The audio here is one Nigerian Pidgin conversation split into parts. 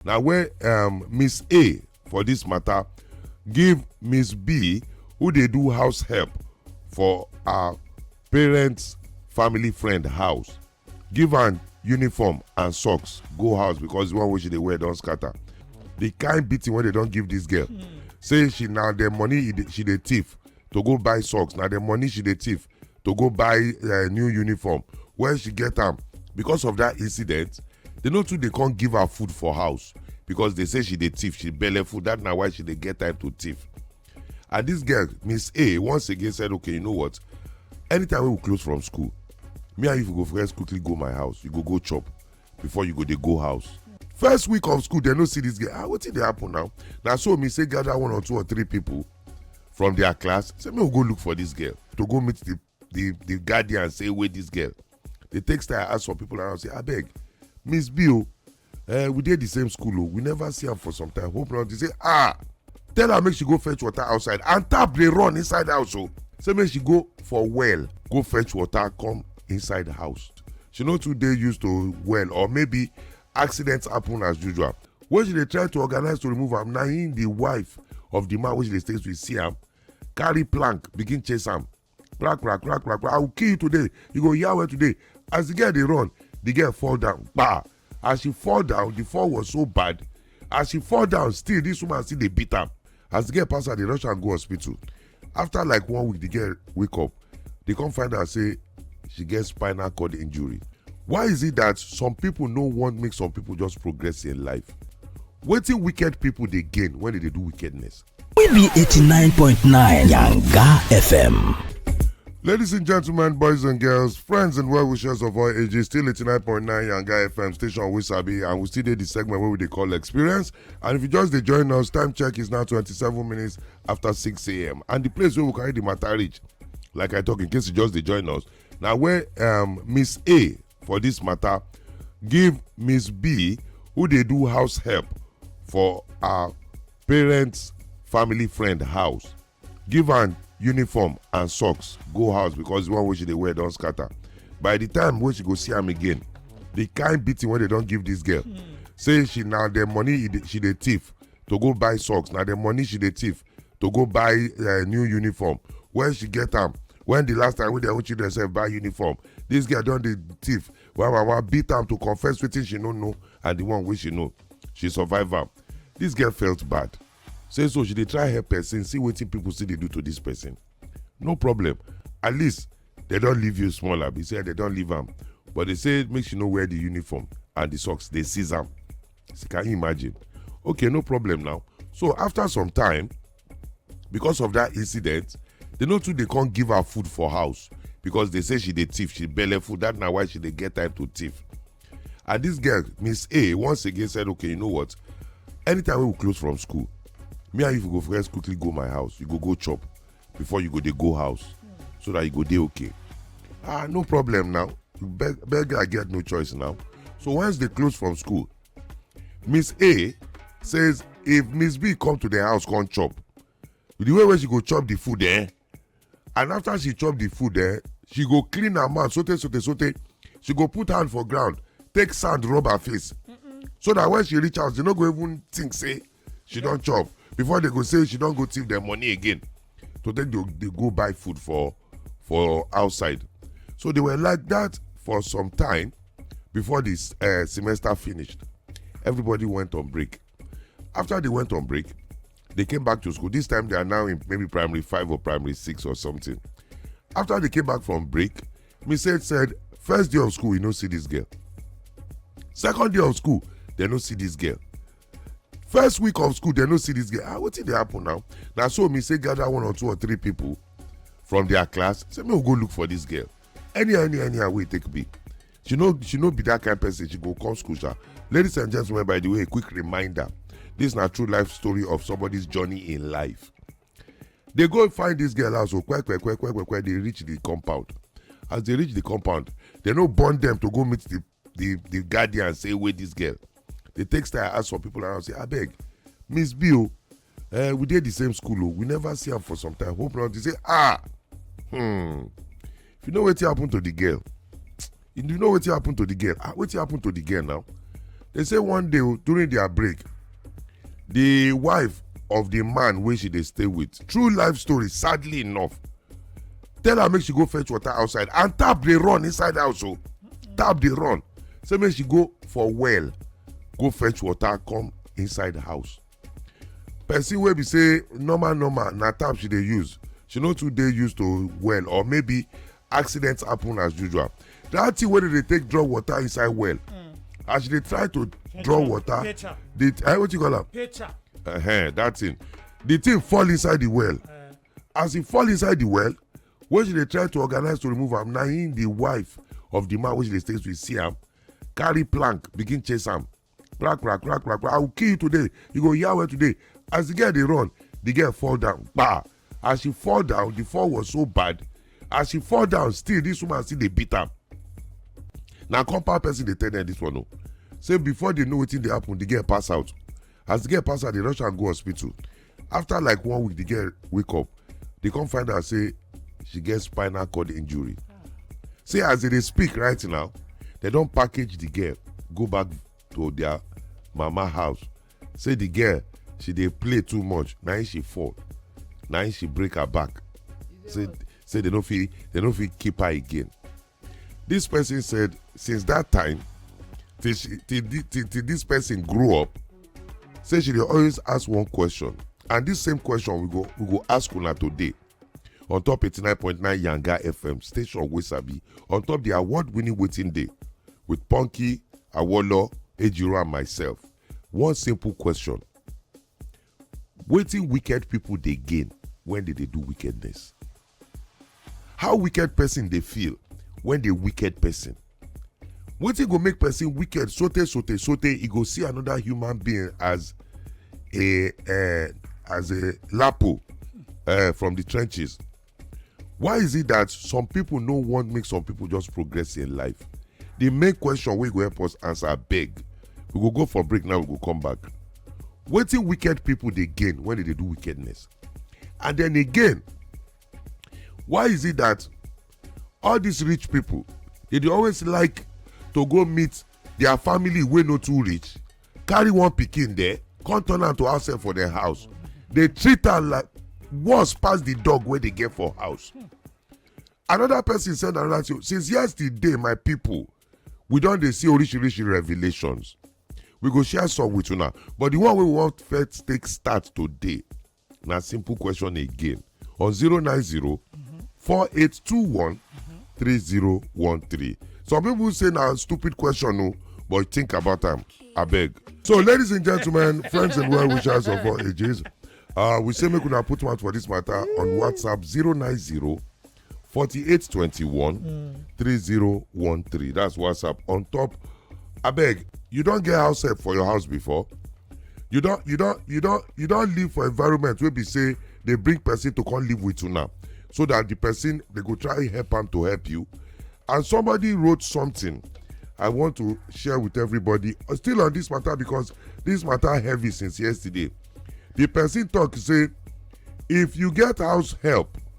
na where um, miss a for dis matter give miss b who dey do house help for her parents family friend house give am uniform and socks go house because the one wey she dey wear don scatter the kind beating wey they don give this girl hmm. say she na the money she dey thief to go buy socks na the money she dey thief to go buy uh, new uniform when she get am because of that incident they no too dey come give her food for house because they say she dey thief she belle food that na why she dey get time to thief and this girl miss a once again said okay you know what anytime we close from school me and you go first quickly go my house you go go chop before you go dey go house first week of school they no see this girl ah wetin dey happen now na so me say gather one or two or three people from their class say make we go look for this girl to go meet the the the guardian say wait this girl the text i ask some people around say abeg miss b o uh, we dey the same school o oh. we never see am for some time hope not dey say ah tell her make she go fetch water outside and tap dey run inside house o oh. say make she go for well go fetch water come inside house she no too dey used to well or maybe accident happen as usual when she dey try to organize to remove am na him the wife of the man wey she dey stay with see am carry plank begin chase am plank plank plank plank i will kill you today you go hear well today as the girl dey run the girl fall down kpa as she fall down the fall was so bad as she fall down still this woman still dey beat am as the girl pass her dey rush am go hospital after like one week the girl wake up they come find out say she get spinal cord injury why is it that some people no want make some people just progress in life wetin wicked people dey gain when they dey do wickedness. we be eighty nine point nine yanga fm. Ladies and gentlemen, boys and girls, friends and well wishers of all ages, still 89.9 Yanga FM station Wisabi, and we still did the segment where we they call experience. And if you just they join us, time check is now 27 minutes after 6am and the place where we carry the matter reach like i talk in case you just dey join us na where um, miss a for this matter give miss b who dey do house help for her parents family friend house give am uniform and socks go house because the one wey she dey wear don scatter by the time wey she go see am again the kind beating wey they don give this girl hmm. say she na the money she dey thief to go buy socks na the money she dey thief to go buy uh, new uniform where she get am when the last time wey their own children sef buy uniform this girl don dey thief wa wa wa beat am to confess wetin she no know and the one wey she know she survive am this girl felt bad say so she dey try help person see wetin people still dey do to this person no problem at least they don leave you small abi say they don leave am but they say make she no wear the uniform and the socks dey seize am so can you imagine okay no problem now so after some time because of that incident they no too dey come give her food for house because they say she dey thief she belle food that na why she dey get time to thief and this girl miss a once again said okay you know what anytime we close from school me and you go first quickly go my house you go go chop before you go dey go house so that you go dey okay ah no problem now beg beg i get no choice now so once they close from school miss a says if miss b come to the house come chop the way wey she go chop the food eh and after she chop the food eh she go clean her mouth sote sote sote she go put hand for ground take sand rub her face so that when she reach house she no go even think say she don chop before they go say she don go thief dem money again to take dey dey go buy food for for outside so they were like that for some time before this uh, semester finished everybody went on break after they went on break they came back to school this time they are now in maybe primary five or primary six or something after they came back from break miss said said first day of school you no see this girl second day of school they no see this girl first week of school dem no see this girl ah wetin dey happen now na so me say gather one or two or three people from their class say make we go look for this girl anyhow anyhow anyhow wey e take be she no she no be that kind person she go come school sha ladies and gentlemen by the way a quick reminder this na true life story of somebody's journey in life dey go find this girl house o kwekwekwekwekwe dey reach the compound as dey reach the compound dem no born dem to go meet the the the guardian say wey this girl dey take style ask for people around say abeg miss b o uh, we dey the same school o we never see am for some time hope not dey say ah hmm if you know wetin happen to the girl you know wetin happen to the girl ah wetin happen to the girl now they say one day oh, during their break the wife of the man wey she dey stay with true life story sadly enough tell her make she go fetch water outside and tap dey run inside house o. Oh. tap dey run say make she go for well go fetch water come inside house person wey be say normal normal na tap she dey use she no too dey used to well or maybe accident happen as usual that thing wey dey take draw water inside well hmm. as she dey try to draw water the eh, what you call am uh -huh, that thing the thing fall inside the well eh. as e fall inside the well when she dey try to organize to remove am na him the wife of the man wey she dey stay with see am carry plank begin chase am crack crack crack crack crack i will kill you today you go hear well today as the girl dey run the girl fall down kpa as she fall down the fall was so bad as she fall down still this woman still dey beat am na compound person dey tell them this one o say before they know wetin dey happen the girl pass out as the girl pass out they rush am go hospital after like one week the girl wake up they come find out say she get spinal cord injury see as they dey speak right now they don package the girl go back to their mama house say the girl she dey play too much na im she fall na im she break her back say say they no fit they no fit keep her again This person said, since that time, till, she, till, till, till this person grew up, say she dey always ask one question. And this same question we go we go ask una today on top 89.9 Yanga FM station wey sabi on top the award-winning waiting day with Punky, Awolo, Ejiro and myself. One simple question. Waiting wicked people they gain when did they do wickedness? How wicked person dey feel when the wicked person? Wetin go make person wicked sote sote sote e go see another human being as a uh, as a lapo uh, from the trenches? Why is it that some people no want make some people just progress in life? The main question wey go help us answer beg. We go go for break now, we go come back. Wetin wicked people dey gain when they dey do wickedness? And then again, why is it that all these rich people they dey always like to go meet their family wey no too rich carry one pikin there come turn am to house help for their house dey treat am like worse pass the dog wey dey get for house another person send another thing since yesterday my people we don dey see orishirishi revelations we go share some with una but the one wey we wan first take start today na simple question again on 090 4821 3013 some people say na stupid question o but think about am abeg so ladies and gentlemen friends and well wishers of all ages uh, we say make una put mouth for this matter on whatsapp 090 4821 mm. 3013. That's WhatsApp. On top, I beg, you don't get house help for your house before? You don't you don't you don't you don't live for environment where we say they bring person to come live with you now. So that the person they go try help them to help you. And somebody wrote something I want to share with everybody. Uh, still on this matter because this matter heavy since yesterday. The person talk say if you get house help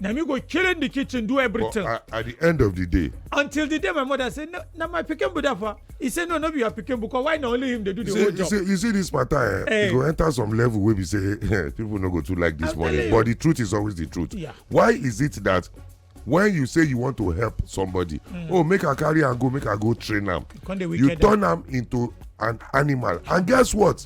na me go kill in the kitchen do everything but at, at the end of the day until the day my mother say no na my pikin be that far he say no no be your pikin because why na only him dey do the whole job you see this matter eh, eh. e go enter some level wey be say eh, people no go too like this money but the truth is always the truth yeah. why is it that when you say you want to help somebody mm. oh make i carry am go make i go train am you turn am into an animal and guess what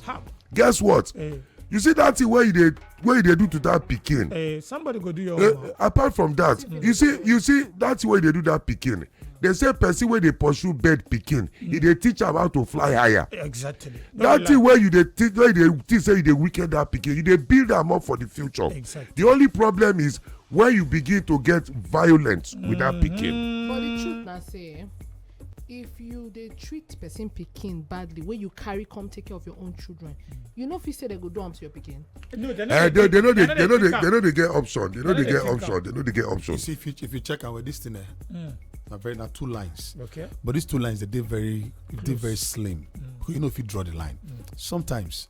guess what eh. you see that thing wey you dey wey you dey do to that pikin eh somebody go do your eh, own apart from that mm. you see you see that way you dey do that pikin they say person wey dey pursue bird pikin e mm. dey teach am how to fly higher exactly that thing wey you dey teach wey you dey teach say you dey wicked that pikin you dey build am up for the future exactly the only problem is when you begin to get violent with that pikin mm-hmm. but the truth na say if you dey treat person pikin badly wey you carry come take care of your own children you no fit say dem go do am to your pikin. no dem no eh, dey they no dey they no dey they no dey get option they no dey get option they no dey get option. you see if you if you check our this thing eh. Mm. na very na two lines. okay but these two lines dey dey very dey very slim. Mm. you no fit draw the line. Mm. sometimes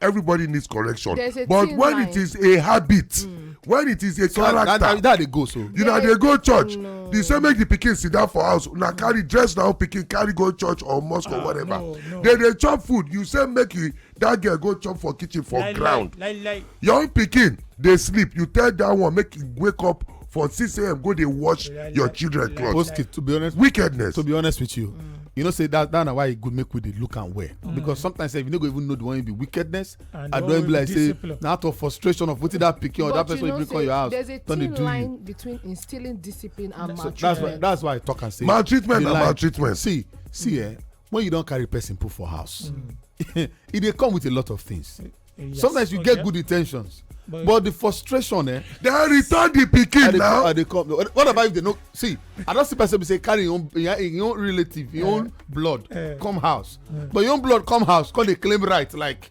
everybody needs correction but when it is a habit mm. when it is a so character that, that, that dey go so you na dey go church no. the same make the pikin sit down for house una carry dress na pikin carry go church or mosque uh, or ah, whatever no, no. they dey chop food you say make you that girl go chop for kitchen for lie, ground lie, lie, lie. your own pikin dey sleep you tell that one make you wake up for 6am go dey wash your children cloth oski to be honest wickedness to be honest with you mm. you know say that that na why e good make we dey look am well mm. because sometimes sef you no go even know the one be wickedness and i don be like say na out of frustration of wetin that pikin or that person wey bring come your house don dey do you between instilling discipline and maltreatment that's why that's why i talk am say maltreatment na maltreatment see see eh when you don carry person put for house mm. e dey come with a lot of things eh, eh, yes. sometimes you oh, get yeah. good intentions but, but the frustration eh. dem return the pikin now. i dey come what about if they no see i don see person be say carry im own im own relative im eh. own blood come house but im own blood come house come dey claim right like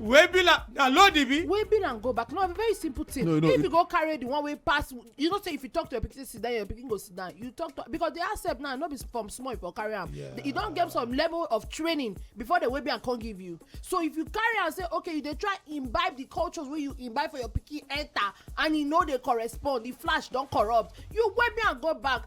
wey be like na load e be. wey be and go back no be very simple thing. no no if you go carry the one wey pass you know say if you talk to your pikin sit down your pikin go sit down you talk to because the accept now no be from small you for carry am yeah. you don get some level of training before the wey be and come give you so if you carry am say okay you dey try imbibe the cultures wey you imbibe for your pikin enter and e no dey correspond the flash don corrupt you wey be and go back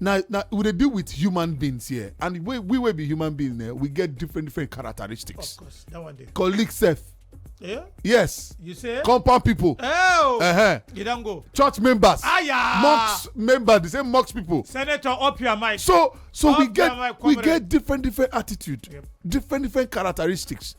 Na na we dey deal with human beings here and we we wey be human beings eh, we get different different characteristics. Of course, that one dey. Colleague sef. Yeah? Yes. You say? Compound people. Oh! Uh-huh. You don't go. Church members. Aya! Mocks members, the same mocks people. Senator, up your mic. So so up we get we get different different attitude, yep. different different characteristics.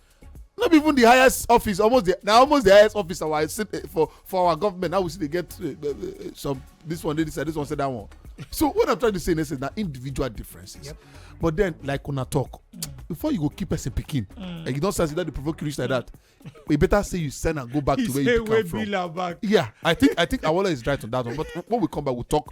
no be even the highest office almost the na almost the highest office our eh, for for our government now we still dey get uh, uh, some this one dey this side this one say that one so what i'm trying to say in essence na individual differences yep. but then like una talk mm. before you go keep person pikin mm. and you don start say that dey provoke you reach like that e better say you send am go back he to where you come from yeah i think i think awola is right on that one but when we come back we we'll talk